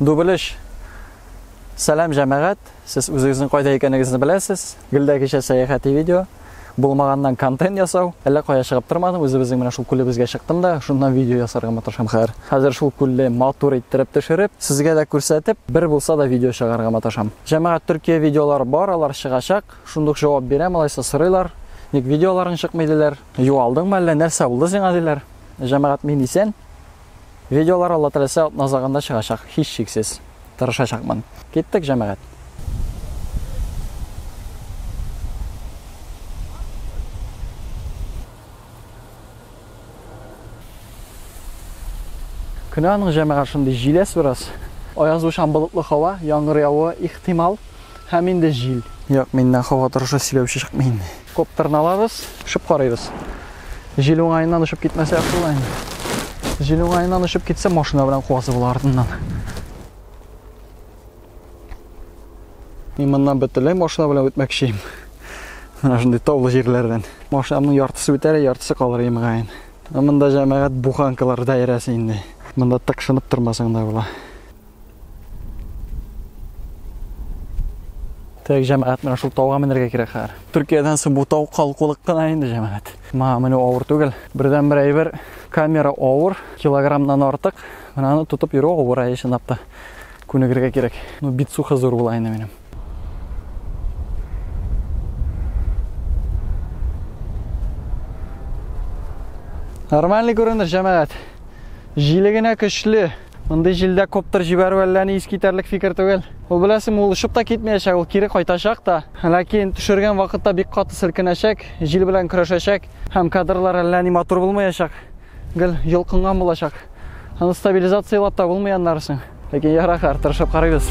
Дубелеш. Сәлам җәмәгать. Сез үзегезнең кайда икәнегезне беләсез. Гөлдә кичә сәяхәти видео. Булмаганнан контент ясау. Әллә кая чыгып тормадым, үзебезнең менә шул күлебезгә чыктым да, шуннан видео ясарга маташам хәзер. Хәзер шул күлне матур иттереп төшереп, сезгә дә күрсәтеп, бер булса да видео чыгарга маташам. Җәмәгать Төркия видеолары бар, алар чыгачак. Шундук җавап бирәм, алайса сорыйлар. Ник видеоларың чыкмый диләр. Юалдыңмы әллә, нәрсә булды сиңа диләр. Җәмәгать мин исән. Видеолар Алла теләсә атна азагында чыгачак, һичшиксез. Тырышачакмын. Киттек, җәмәгать. Көне аның җәмәгать шундый җиләс бераз. Аязучан болытлы һава, яңгыр явуы ихтимал. Һәм инде җил. Юк, миннән һава торышы сөйләүче чыкмый инде. Коптерны алабыз, очып карыйбыз. Җил уңаеннан очып китмәсә яхшы була инде. Җил уңаеннан очып китсә, машина белән куасы була артыннан. Мин моннан бөтенләй машина белән үтмәкче идем. Менә шундый таулы җирләрдән. Машинамның яртысы үтәр, яртысы калыр имгаен. Монда җәмәгать буханкалар даирәсе инде. Монда тыкшынып тормасаң да була. Так, җәмәгать, менә шул тауга менергә кирәк хәзер. Төркиядән соң бу тау калкулык кына инде җәмәгать. Ма, менә авыр түгел. Бердән бер әйбер, камера авыр, килограммнан артык. Менә аны тотып йөрү авыр, ә чынлап та күнегергә кирәк. Ну, бит сухы зур була инде минем. Нормальный күренеш, җәмәгать. Җиле генә көчле. Мондый җилдә коптер җибәрү әллә ни искитәрлек фикер түгел. Ул беләсең, ул очып та китмәячәк, ул кире кайтачак та. Ләкин төшергән вакытта бик каты селкенәчәк, җил белән көрәшәчәк һәм кадрлар әллә ни матур булмаячак. Гел йолкынган булачак. Аны стабилизацияләп тә булмый аннарысын. Ләкин ярар, тырышып карыйбыз.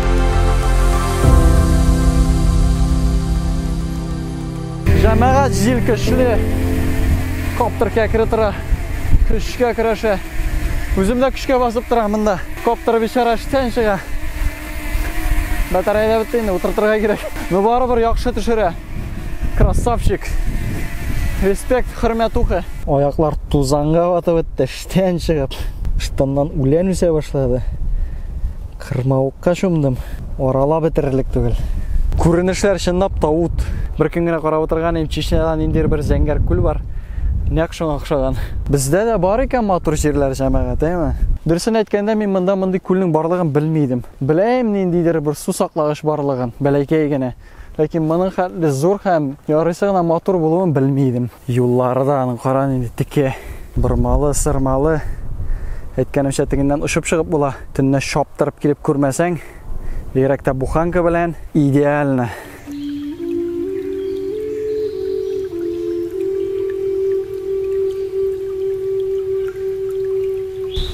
Җәмәгать җил көчле. Коптеркә кере тора. Көчкә көрәшә. Үзем дә көчкә басып тора монда. Коптер бичара эштән чыга. Батарея бетте инде, утыртырга кирәк. Ну барыбер яхшы төшерә. Красавчик. Респект, хөрмәтуха. Аяклар тузанга батып бетте. Тән чыгып, штаннан үлән үсә башлады. Кырмавыкка чумдым. Арала бетерерлек түгел. Күренешләр чынлап та ут. Бер көн генә карап утырган идем, Чечняда ниндидер бер зәңгәр күл бар. Нәкъ шуңа охшаган. Бездә дә бар икән матур җирләр җәмәгать, әйме? Дөресен әйткәндә, мин монда мондый күлнең барлыгын белми идем. Беләем ниндидер бер су саклагыч барлыгын, бәләкәй генә. Ләкин моның хәтле зур һәм ярыйсы гына матур булуын белми идем. Юллары да аның кара нинди теке, бормалы, сырмалы. Әйткәнемчә, тегеннән очып чыгып була. Төнлә чаптырып килеп күрмәсәң, бигрәк тә буханка белән идеально.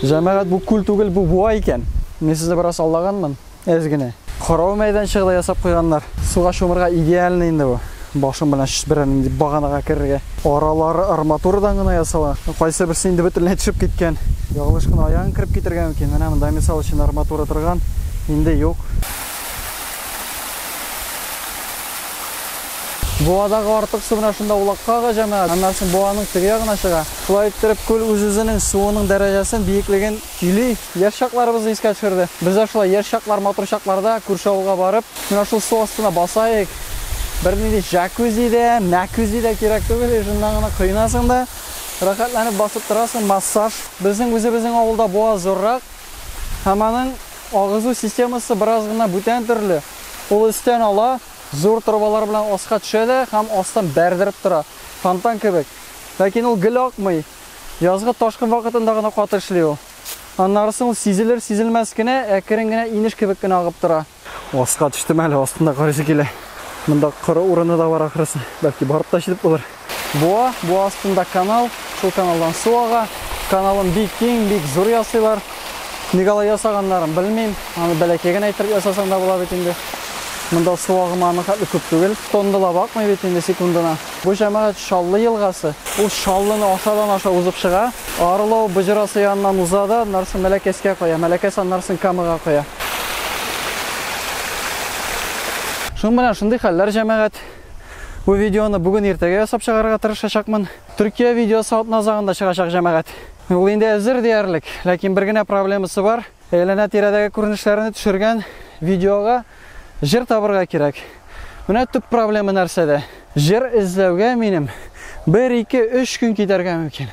Җәмәгать, бу күл түгел, бу буа икән. Мин сезне бераз аллаганмын. Әз генә. Карау мәйданчыгы да ясап куйганнар. Суга чумырга идеальный инде бу. Башың белән берәр нинди баганага керергә. Аралары арматурадан гына ясалган. Кайсы берсе инде бөтенләй төшеп киткән. Ялгыш кына аягың кереп китергә мөмкин. Менә монда мисал өчен арматура торган, инде юк. Буадагы артык су менә шунда улакка ага, җәмәгать. Аннан соң буаның теге ягына чыга. Шулай иттереп, күл үз-үзенең суының дәрәҗәсен, биеклеген Юлий яшь чакларыбызны искә төшерде. Без дә шулай яшь чаклар, матур чакларда күрше авылга барып, менә шул су астына басаек. Бернинди җакузи дә, мәкүзи дә кирәк түгел, ижыннан гына коенасың да, рәхәтләнеп басып торасың, массаж. Безнең үзебезнең авылда буаз зуррак һәм аның агызу системасы бераз гына бүтән төрле. Ул өстән ала, зур торбалар белән аска төшә дә һәм астан бәрдереп тора, фонтан кебек. Ләкин ул гел акмый. Язгы ташкын вакытында гына каты эшли ул. Аннары соң ул сизелер-сизелмәс кенә, әкрен генә инеш кебек кенә агып тора. Аска төштем әле, астында карыйсы килә. Монда коры урыны да бар ахрысы. Бәлки барып та җитеп булыр. Буа, буа астында канал, шул каналдан су ага. Каналын бик киң, бик зур ясыйлар. Ник алай ясаганнарын белмим. Аны бәләкәй генә итеп ясасаң да була бит инде. Монда су агымы аның хәтле күп түгел. Тонны да бакмый бит инде секундына. Бу җәмәгать Шаллы елгасы, ул Шаллыны ашадан аша узып чыга, Орлов боҗрасы яныннан уза да аннарсын Мәләкәскә коя, Мәләкәс аннарсын Камага коя. Шуң белән шундый хәлләр җәмәгать. Бу видеоны бүген иртәгә ясап чыгарырга тырышачакмын. Төркия видеосы атна азагында чыгачак җәмәгать. Ул инде әзер диярлек, ләкин бер генә проблемасы бар, әйләнә-тирәдәге күренешләрне төшергән видеога Җыр табырга кирәк. Менә төп проблема нәрсәдә? Җыр эзләүгә минем бер, ике, өч көн китәргә мөмкин.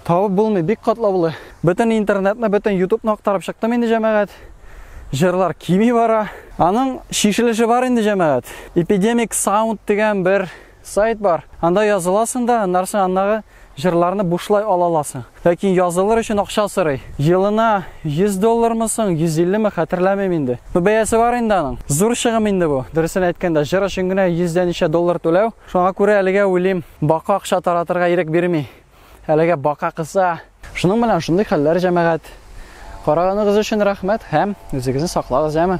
Табып булмый, бик катлаулы. Бөтен интернетны, бөтен ютубны актарып чыктым инде, җәмәгать. Җырлар кими бара. Аның чишелеше бар инде, җәмәгать. Epidemic Sound дигән бер сайт бар. Анда языласың да, аннары аннагы Җырларны бушлай ала аласың. Ләкин язылыр өчен акча сорый. Елына 100 доллармы соң, 150 ме, хәтерләмим инде. Ну, бәясе бар инде аның. Зур чыгым инде бу. Дөресен әйткәндә, җыр өчен генә 100 дә ничә доллар түләү. Шуңа күрә әлегә уйлыйм, бака акча таратырга ирек бирми. Әлегә бака кыса. Шуның белән шундый хәлләр, җәмәгать. Караганыгыз өчен рәхмәт һәм үзегезне саклагыз, яме.